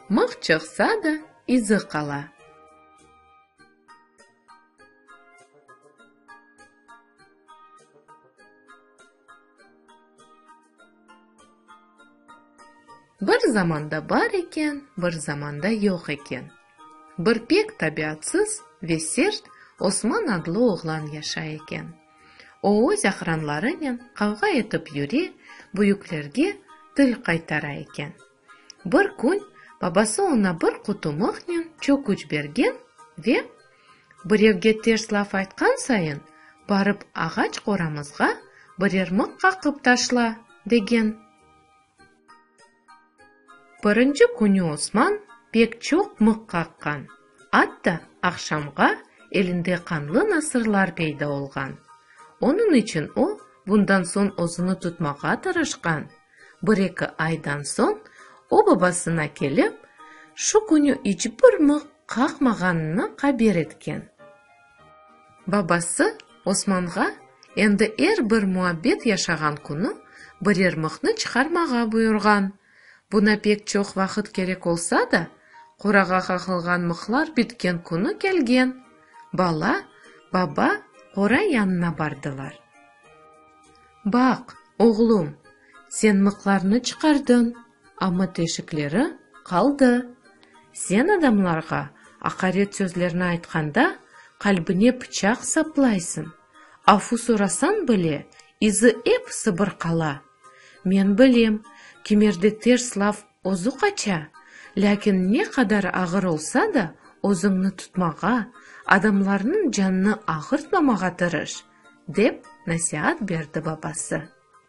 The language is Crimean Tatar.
Mıh çıqsa da, izi qala. Bir zamanda bar eken, bir zamanda yoq eken. Bir pek tabiatsız ve sert Osman adlı oğlan yaşay eken. Oğuz aqranlarınen qavğa etip yüre, büyüklerge til qaytara eken. Bir kün babası oña bir qutu mıhnen çöküç bergen ve, Birevge ters laf aytqan sayın, barıp ağaç qoramızğa birer mıh qaqıp taşla, degen. Birinci künü Osman pek çoq mıq qaqqan, atta aqşamğa elinde qanlı nasırlar peyda olğan. Onıñ içün o, bundan soñ özüni tutmağa tırışqan. Bir-eki aydan soñ o babasına kelip, şu künü iç bir mıq qaqmağanını qaber etken. Babası Osmanğa endi er bir muabbet yaşağan künü biryermıqnı çıqarmağa buyurğan. Buna pek çoq vaqıt kerek olsa da, qorağa qaqılğan mıqlar bitken künü kelgen. Bala, baba qora yanına bardılar. Baq, oğlum, sen mıqlarnı çıqardın. Amma teşikleri qaldı. Sen adamlarğa aqaret sözlerni aytqanda, qalbine pıçaq saplaysıñ. Afu sorasañ bile, izi ep sıbırqala. Men bilem, kimerde ters laf özü qaça, lâkin ne qadar ağır olsa da, özüñni tutmağa, adamlarnıñ canını ağırtmamağa tırış, dep nasiat berdi babası.